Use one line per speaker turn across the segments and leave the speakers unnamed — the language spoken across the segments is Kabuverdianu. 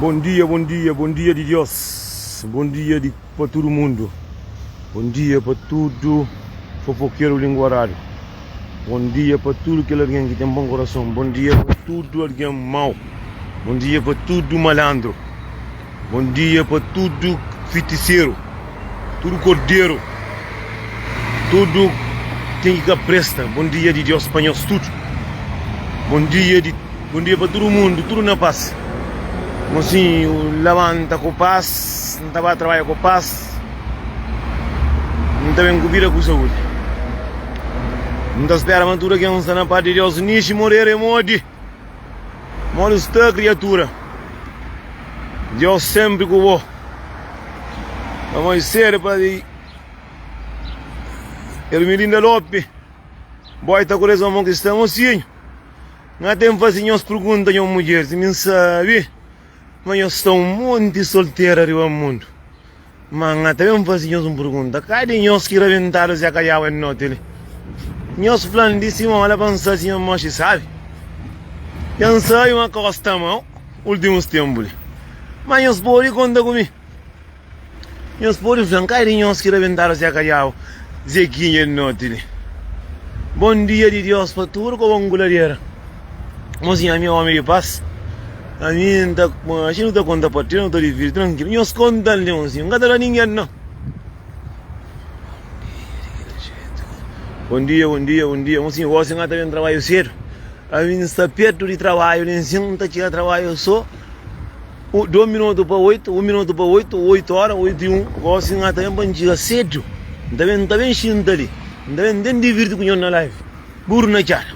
Bom dia, bom dia, bom dia di Deus, bom dia di pa tudo mundo, bom dia pa tudo fofoqueiro linguarado, bom dia pa tudo kel alguém que tem bom coração, bom dia pa tudo alguém mau, bom dia pa tudo malandro, bom dia pa tudo fiticeiro. Tudu korderu Tudu ten ki ka presta Bon dia di Diós pa nhos tudu Bon dia di Bon dia pa tudu mundu Tudu na pas Mosinhu labanta ku pas N ta ba trabadja ku pas N ta ben ku vida ku saúdi N ta spera ma tudu ken sta na pas di Diós Nishi morere modi Kmodi sta kriatura Deus senpri ku bo Pa moi sedu pa di Ermilinda Lope Boi ta ku des ma mon kristã mosinhu Nga ten fase nhos pergunta nho mudjer si mi sabi Ma nhos sta un monti soltera riba mundu Má N ta ben faze nhos un pergunta. Ka é di nhos ki rabentadu Zé Kadiau N noti li? Nhos fla-m di sima ola pa N sa si nhos moxi sábi? Dja N sabe ma ka gosta di mau últimus ténpu li. Má nhos pode konta ku mi. Nhos pode fla-m ka é di nhos ki rabentadu Zé Kadiau, Zekinha N noti li? Bon dia di Diós pa tudu kobonguladera. Mozinha mi é ómi di pas. Ami N ta axa nu ta konta pa três nu ta dividi trankilu nhos konta-l Leonzinho N ka ta da ningen nau Bom dia bom dia bom dia Mosinhu gosi N ka ta ben trabaiu sedu Ami N sta pertu di trabaiu Lenzinho N ta txiga trabaiu so Dos minutu pa oitu un minutu pa oitu oitu ora oitu i un gosi N ka ta ben pa N txiga sedu N ta ben xinta li N ta ben N ten divirti ku nhos na live Buru na txada.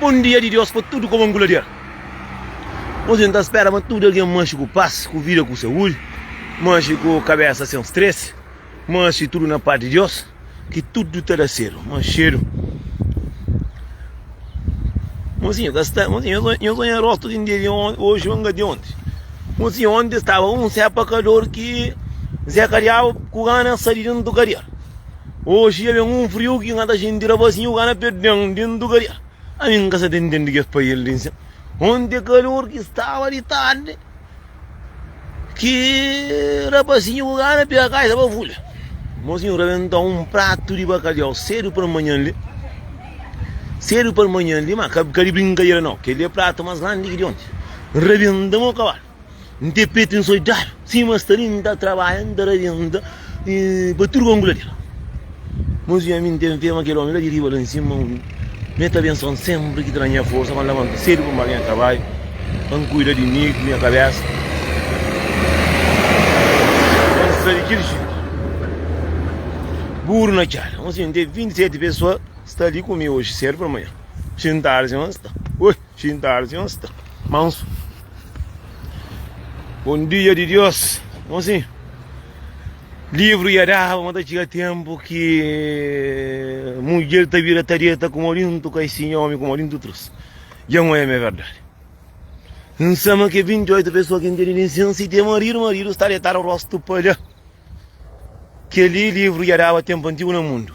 Bom dia di Deus pa tudo como um guladeira Hoje não tá espera mas tudo alguém manche com paz Com vida com saúde Manche com cabeça sem stress Manche tudo na paz de Deus Que tudo tá da cedo Manchedo Mozinho, cá está, mozinho, eu sou em rosto de dia de ontem, hoje eu engatei ontem. Mozinho, ontem estava um Zé Pacador que Zé Carial, com gana, saíram do Carial. Oxi ia ben un friu ki n'ka ta xinti ra basin uga na pé den di un dugaria. Ami n'ka sa ta intendi kes paiel di nsen. Onti é kalor ki staba di tardi ki rapazinhu uga na pé ka staba vulha. Mozinhu rebenta un pratu di bakaliau sedu per manhan li, sedu per manhan li, ma ka di brinkadera nau. Kel li é pratu mas grandi ki di onti. Rebenta mo kabalu. N te pete N soldadu sima es ta ri N ta trabadja N ta rabia N ta pa tudu kongu la di la Mos i ami N ten fé ma kel omi la di riba la N sima un mi el ta bensuan senpri ki ta da nha forsa pa N labanta sedu pa N ba nha trabadju pa N kuida di mi ku nha kabesa pa N sta di kel jetu buru na kela N ten 27 pesoa sta li ku mi oji sedu pa manha Xintal si ma sta oi. Xintarse nhos ta mansu. Bom dia di Deus. Bom assim. Livro ia dava, mas tá chega tempo que mulher tá vira tareta com morinto, cai sim homem com morinto trouxe. Já não é minha verdade. Não sabe que 28 pessoas que entendem licença e tem marido, marido está deitado o rosto palha. Que ali livro ia dava tempo antigo no mundo.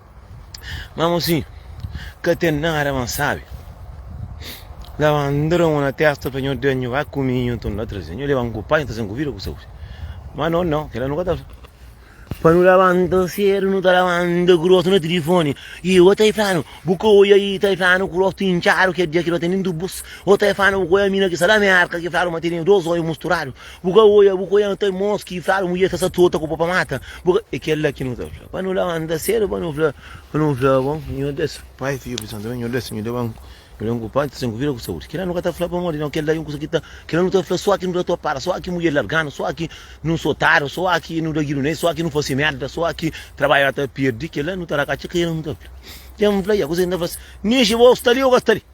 Má mosinhu, ka ten nada ma N sabe. Dja ba N dra mon na tésta pa nho, dja nho ba ku mi, nho ta N ba traze. Nho leba-m ku pai, N ta sen ku vida, ku saúdi. Má no, no, kel-la nu ka ta fla. Pa nu labanta sédu, nu ta labanta ku rostu na tilifóni. I bo ta fla-nu, bu ka odja i ta fla-nu ku rostu intxadu, kel dia ki nu ba ten nen dubus. Bo ta fla-nu, bu ka odja mi na ki sala Mérka ki fla-nu ma tene dôs odju musturadu. Bu ka oia, bu ka oia, nu ta irmons ki fradu mudjer ta sa trota ku pa pa mata. Bu ka, e kel la ki nu ta fla. Pa nu la ma nu ta sedu pa nu fla, pa nu fla bon, Nhor Deus, Pai, Fidju, Spritu Santu, Nhor Deus, nhu da ban, nhu da ban ku pan, trazen ku vida, ku saudi. Kel la nu ka ta fla pamodi no kel la e un kusa ki ta, kel la nu ta fla so ki nu ta topadu, so ki mudjer larganu, so ki nu sotadu, so ki nu da gidu nel, so ki nu fasi merda, so ki trabadja ta pirdi, kel la nu ta da katxa, kel la nu ta fla. Kel la nu fla, ya, kusa ki nu ta fla si, Nixi, bo sta li o ka sta li?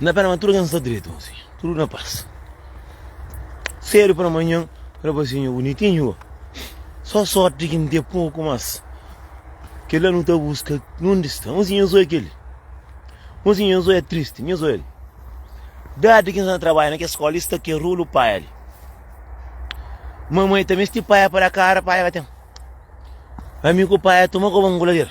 Na pena ma tudo ken sta direito ma sim tudo na paz Cedo pela manhã rapazinho bonitinho Só sorte que não tem pouco mas Que lá não tá busca Onde está? Mas eu sou aquele Mas eu sou é triste Eu sou ele Dade que não trabalha naquela escola Está que rolo pai ali Mamãe também este pai para a cara Pai vai ter Amigo pai toma como um goladeiro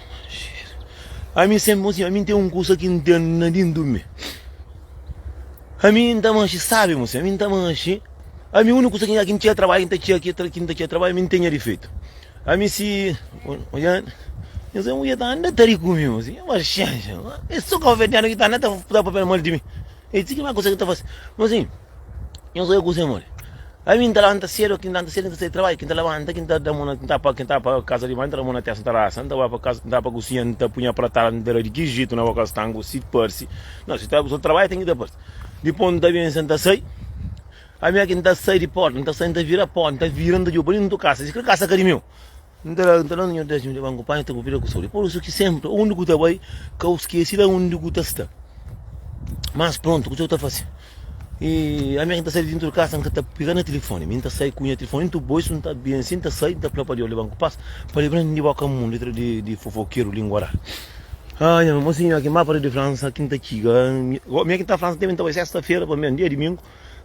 Ami senpri un si, ami ten un kusa ki N ten na dentu mi. Ami N ta manxi sabi mo si, ami N ta manxi, ami uniku kusa ki N txia trabadju, ki N ta txia ki ki N ta txia trabadju, ami N tenha difeitu. Ami si, oja, nhos amo ja ta anda ta ri ku mi mo si, nha paxénxa, e so ka ofertadu ki ta anda ta fla papia mal di mi, e ti ki mai kusa ki ta fase, mo si. Nhos bai kuze modi? Ami n ta labanta sedu, ki n labanta sedu, n ta sai trabadju, ki n ta labanta, ki n ta da mon, ki n ta pa, ki n ta pa kasa di banhu, n ta da mon na testa, n ta rasa, n ta ba pa kasa, n ta pa kusinha, n ta punha pratada, n ta da di ki jitu na boka stangu, si parsi, no, si ta kusa trabadju ten ki ta parsi, dipos n ta ben sa n ta sai, ami aki n ta sai di porta, n ta sai, n ta vira porta, n ta vira, n ta djoba li, n ta kasa, si kil kasa ka di meu. N ta da-l, N ta da-l nha dézimu di banku, panha ta bu bira ku soli. Pur isu ki sénpri undi ku ta bai, ka u skese la undi ku ta sta. Mas prontu, kuzê ku ta fase? I ami ki N ta sai di dintu di kasa, N ka ta pega na tilifoni. Mi N ta sai ku nha tilifoni ntu bo, isu N ta ben si, N ta sai, N ta fla pa Deus liba-m ku pas, pa libra-m di boka mun, letra di fofokeru, lingua rara. Ah, nha mô, siñor, ki mapa di Fransa ki N ta txiga. Mi ki N ta Fransa, teme N ta bai sesta-fera, pamodi é dia diminku.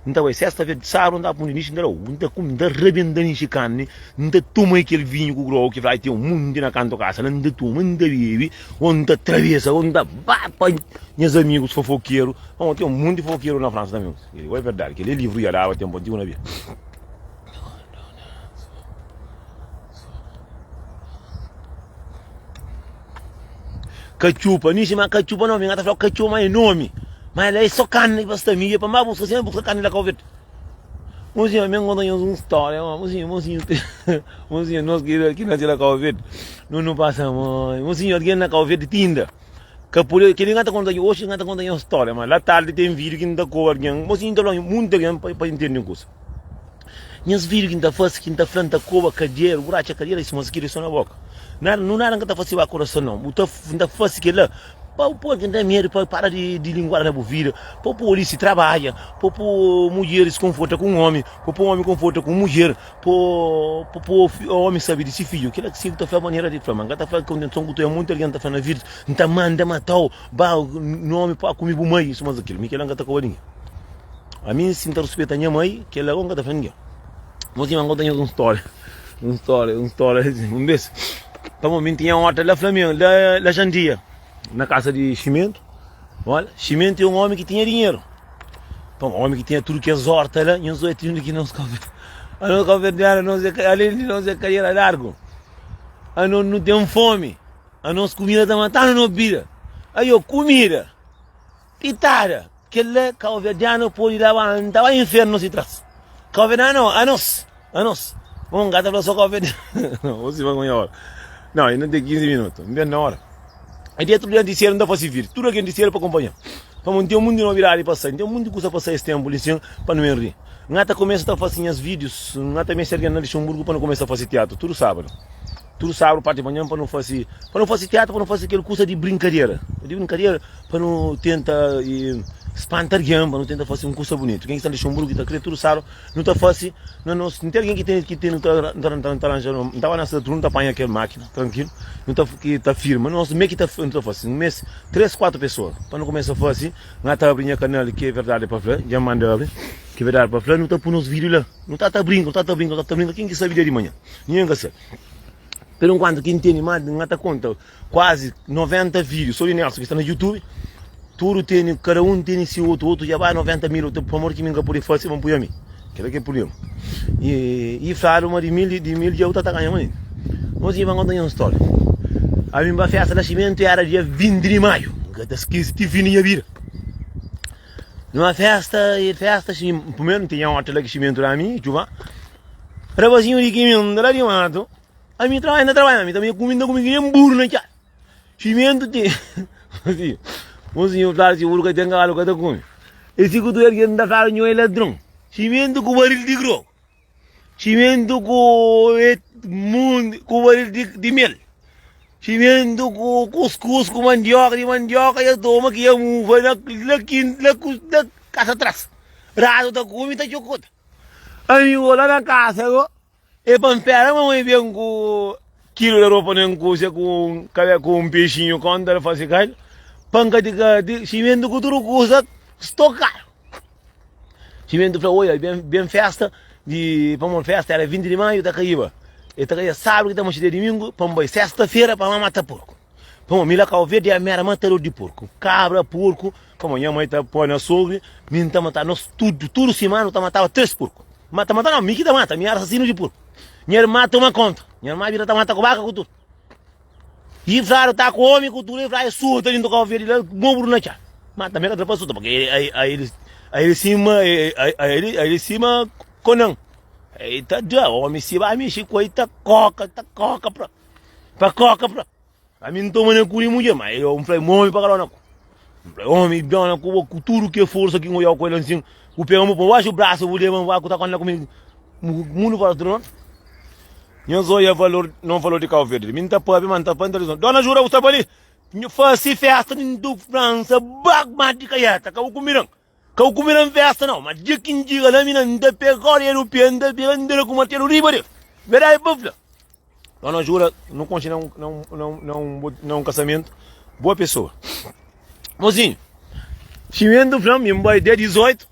N ta bai sesta-fera di sábadu, N ta punde nixe, N ta da obi, N ta kume, N ta rabenta nixe karni, N ta toma kel vinhu ku grogu ki fladu ten un monti na kantu kasa la, N ta toma, N ta bebe, ô N ta trabesa, ô N ta ba pa nhas amigus fofokeru. Nau, ten un monti di fofokeru na Fransa tanbê. Kel li bo é verdadi, kel li é livru dja daba tenpu antigu na bia. Katxupa, mi xima katxupa nomi, nga ta fla katxupa ma e nomi, ma la e so karni ki basta mi, e pa ma buska sima buska karni la ka obi. Bon sinhor, mi nkontra nhos un storia, bon sinhor, bon sinhor, bon sinhor nos ki nase la ka obi, nos no pasa mai, bon sinhor algen la ka obi tinda, ka pode, kile nga ta konta nhos, oxi nga ta konta nhos storia, ma la tardi ten video ki n'ta koba algen, bon sinhor n'ta fla nhos munti algen pa intende un kusa. Nhas fidju ki N ta fase, ki N ta fla N ta koba kadiera, uratxa kadiera i suma skiri so na boka. Nada, nu nada N ka ta fase ba kurason nau. Bu ta, N ta fase kela pa bu poi algen ten medu, pa el para di di linguada na bu vida, pa bu poi polisi trabadja, pa bu poi mudjeris konforta ku un omi, pa bu poi omi konforta ku un mudjer, pa bu poi fi, omi sabe di si fidju. Kila si bu ta fla manera di fla, ma N ka ta fla ku intenson ku tui. Monti algen ta fla na vida, N ta manda matau, ba, no omi pua ku mi bu mai i sumas di kila. Mi kila N ka ta koba di ningin. A mi sin ta ruspeta nha mai, kel la konka ta fla ningen. Mo si ma konta nhos un stória, un stória, un stória. Un bes, pa mo minti nha horta la Flamengo, la, la Jandia, na kasa di Ximento. Olha, Ximento é um homem que tinha dinheiro. Então, um homem que tinha tudo que as hortas lá, nhos é tudo que nós café. A nós café de ar, nós é, além de nós é cadeira largo. A nós não tem fome. A nós comida tá matando, não bira.
Aí, ó, comida. Kitada! Kel-la kauverdianu podi la ba N ta ba infernu si tras Kauverdianu a nos a nos Bon, ka ta fla so kauverdianu Bo siba konxe ora Nau, e nu ten kinzi minutu N ben na ora E dia tudu di antisiera N ta fasi vidi tudu kel antisiera pa konpanha Pamodi N ten monti novidadi pa sai N ten monti kusa pa sai es tenpu li sin Pa nu ben ri N ka ta kumesa ta fasi nhas vidius N ka ta meste algen na Lixenburgu Pa nu kumesa fasi tiatru tudu sabadu Tudu sábadu párti di manhan pa nu fase, pa nu fase tiatru, pa nu fase kel kusa di brinkadera. Nu dibi brinkadera pa nu tenta spanta algen, pa nu tenta fase un kusa bunitu. Ken ki sta na Luxenburgu ki ta kre, tudu sábadu nu ta fase na nos, si n ten algen ki ten, ki ten nu ta ta aranja, n ta ba na se tudu nu ta panha kel mákina trankilu, nu ta ki ta firma. Nu meste mê ki ta nu ta fase, nu meste três, kuatru pesoa pa nu kumesa fase. N ta abri nha kanal ki é verdadi pa fla, dja n manda abri, ki é verdadi pa fla, nu ta pui nos vídiu la, nu ta ta brinka, nu ta ta brinka, nu ta ta brinka, ken ki sabe dia di manhan. Ninhun ka ser. Pero enkuanto ki ntende ma nha ta konta kuazi 90 video so di Nelson ki sta na YouTube, tudo tene, cada um tene si outro, outro já vai 90 mil, outro por amor que mim não poder fazer, vão pôr a mim. Aquele que é o problema. E, e falaram uma de mil, de mil já outra tá ganhando ainda. Nós ia contar uma história. A mim para festa nascimento era dia 20 de maio. Nunca te esqueci, te vi minha vida. Numa festa, e festa, primeiro não tinha outra lá que chimento lá a mim, chuva. Rapazinhu di kimenta la di matu Ami trabalha na trabalha ami tanbe kumi na kumi ki nem buru na txada Ximentu ti Mozinhu Mozinhu fla si buru ka ten kavalu ka ta kumi E si ku tu ergi el nta fla nho e ladron Ximentu ku baril di grogu Ximentu ku et mundi ku baril di di mel Ximentu ku kuskus ku mandioka di mandioka ya toma ki ya mufa na la kin la ku la kasa tras Ratu ta kumi ta txokuta Amigu la na kasa go e pa npera mamãe ben ku kilu de ropa nen ku se ku kabe ku un pexinhu konta el fasi kai pa nkati kati ximentu ku tudu kusa stokaru ximentu fla oia ben ben festa di pamon festa era 20 di maiu ta kaiba e ta kaia sabru ki ta mati dia dimingu pa nbai sesta fera pa mama ta porku Pamo mi la ka ovê dia mera matador di porku, kabra, porku, pamo nha mai ta poi na sogri, mi nta mata nos tudu, tudu simana nu ta mataba tres porku, ma ta mata no mi ki ta mata, mi era asasinu di porku, nha irma toma konta, nha irma bira ta mata ku baka ku tudu, i fladu ta ku omi ku tudu, i fladu suta dintu ka ovê di la mobru na txan, ma tanbe ka tra pa suta purki aili sima aili sima konan, i ta da omi si ba mixi ku el ta koka ta koka prontu. Pa koka fla, ami nta mane ku li mudje, ma eu nfla, ma omi pa kala na ku. Nfla, omi bem na ku bo ku tudu ke forsa ki ngoiau ku el ansin, bu pega mu pon baxu brasu, bu leba nvua ku ta konta ku mi mundu fora tudu nota. Nha zoia valor non falou di Cabo Verde, mi nta pabia, ma nta pa intelizon. Dona jura bu sta pa li? Fasi festa di ndu França, bag ma di kaiata, ka bu ku miran. Ka bu kumina n festa nau ma dia ki n txiga la mi na n ta pega kóda europeu n ta pega n ta da ku martelu riba del verdadi pa fla pa no jura no konxe na un na un kasamentu boa pesoa mozinhu ximentu fla mi n bai dia 18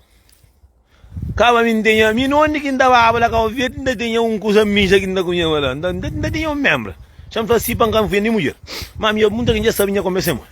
kaba mi n tenha mi nonde ki n ta baba la kau verde n ta tenha un kusa mija ki n ta kunheba la n ta tenha un menbra xa n fla si pa n ka n fia nen mudjer ma ami dja munta ki n dja sabe nha kombe se modi.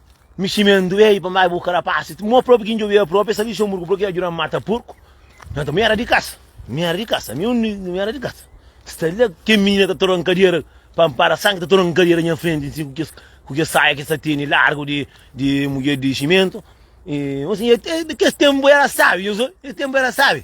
Miximendu ei pa mai bu ka da pasa ti mo propi ki njobi el propi sa lixou murgu proki ajuda mata purku nata mi era di kasa mi era di kasa mi undi mi era di kasa sta la ken minina ta tora nkadera pa npara sangi ta tora nkadera nha frenti nsi ku kes ku kes saia ki sa teni largu di di mudjer di ximentu i nfasi nhos kes tenpu era sabi nhos oi nhos tenpu era sabi.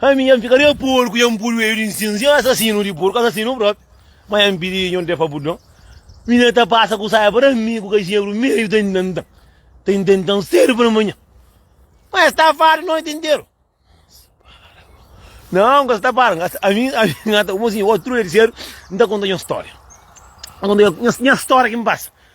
Ami nha fika de porku nha pul oeju di nsinsu nha asasinu di porku asasinu propi ma nha pidi nhu de pa bu don mi nha ta pasa ku saia para mi ku kaxebru meiu ta intenta ta intenta sedu para manha ma nha sta fadu noiti interu nau nka sta para nka ami ami nha ta osi otru dia di sedu nta konta nha storia nha nha storia kin pasa.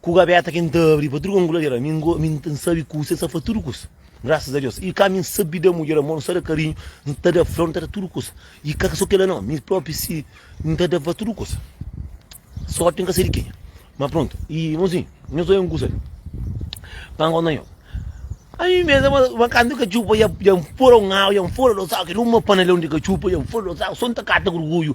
Ku gabeta ki N ta abri pa tudu kongulader, ami ngo, ami N sabi kusa, N sa fla tudu kusa, grasas a Deus. I ka ami N sabi da mudjer amor, N sa da karinhu, N ta da flor, N ta da tudu kusa. I ka so kila no, mi propi si N ta dava tudu kusa. Sorti N ka sai di kenha. Ma prontu, i irmonzinhu, nhos oja un kusa li, pa N konta nho. Ami mesa, ma, ma kantu ka txupa, ja, ja N fura un agu, ja N fura dos agu, kel uma panalon di ka txupa, ja N fura dos agu, so N ta kata gurguju.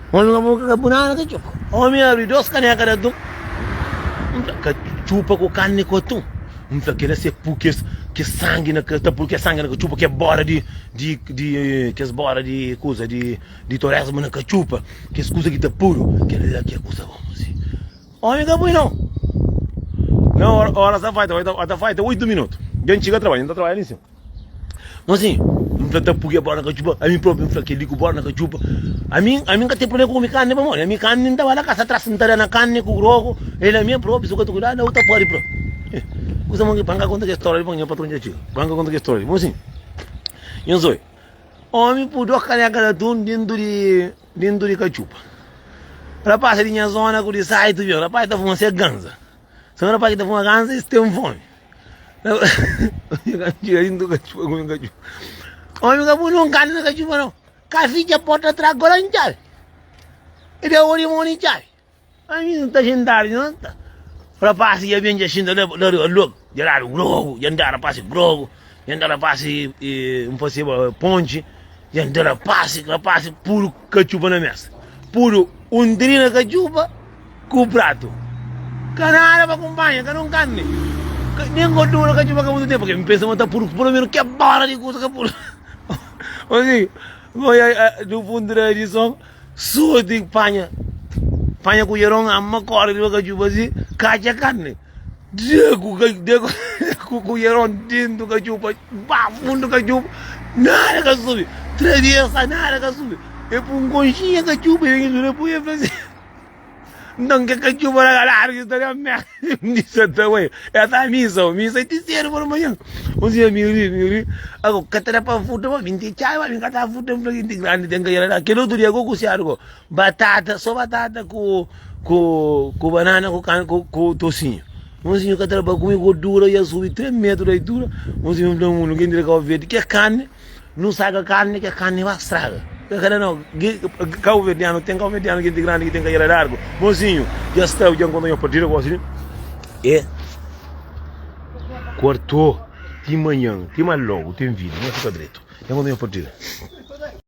Omi ka boka ka bu nada ka txupa. Omi abri dos kaneka di atum, N fla, ka txupa ku karni ku atum. N fla, kila se pu kes kes sangi na ka ta pul kes sangi na ka txupa kes bora di di di kes bora di kuza di di toresmu na ka txupa kes kuza ki ta puru kel la ki é kuza bon faze. Omi ka pui nau. Na ora ora sa fai ta fai ta fai ta oitu minutu dja N txiga trabalhu N ta trabadja li nsin. Mon zinho, N fla-l ta purria bóla na katxupa, ami própi N fla kel-li ku bóla na katxupa. Ami, ami N ka ten prubléma ku kume karni pamodi ami karni N ta ba la kasa tras, N ta da na karni ku grogu, el na mia própi, si bu ka ta kuidadu la bu ta pâdi pra. He, kusa mon ki pa N ka konta kes stória li pamodi nha patron dja txiga, pa N ka konta kes stória li. Mon zinho, Nhos oi, ómi pui dôs kanéka di atun déntu di, déntu di katxupa. Rapás di nha zóna ku di saitu bira, rapás ta fuma se ganza. Semana pasa ki ta fuma ganza es tem fome Omi ka punu un kanu na kachupa no Ka fitcha porta atrás gola un chave E da ori mon un chave Ami nu ta xintadu no ta Rapasi ya bem ja xinta la la riba log Ja dadu grogu ja nda rapasi grogu Ja nda rapasi e nfasiba ponchi Ja nda rapasi rapasi puru Ka txuba na mes. Pudu un dri na ka txuba ku pratu. Ka nada pa kunpanha, ka nun karni. Ka, nen gordura ka txuba ka mutu tempu. Ke mi pensa ma ta pudu pelo menu ke bala di kusa ka pudu. Osi, goi a, a, du puntu da edison, sorti panha, panha kujeron, ama, kori riba ka txuba si, katxa karni. Diego ka Diego ku ku Yeron dentu ka txupa, ba fundu ka txupa, nada ka subi. Três dias sa nada ka subi. E pun konxinha ka txupa, e vem dura pun e fala assim. Então que ka txupa na galera que está na merda. Disse até ué, é da missa, o missa é de cedo por manhã. Um dia me ri, me ri. Agora, catara para futa, mas vinte chai, mas vinte catara futa, vinte grande tem que ir lá. Aquele outro dia, eu cusiado, Batata, so batata ku ku ku banana ku kan ku, ku tosinho. Unzinho ka traba kumi gordura ia subi 3 metro da altura. Unzinho fla mulu gen dire Cabo Verde ke carne, nu saga carne ke carne ba straga. Ke kada não, ge- Cabo Verdeano tem Cabo Verdeano gente grande que tem cadeira largo. Mozinho, já está, já encontrou uma partida gosta de é quarto de manhã, tem mais logo, tem vídeo, não fica direito. Já encontrou uma partida.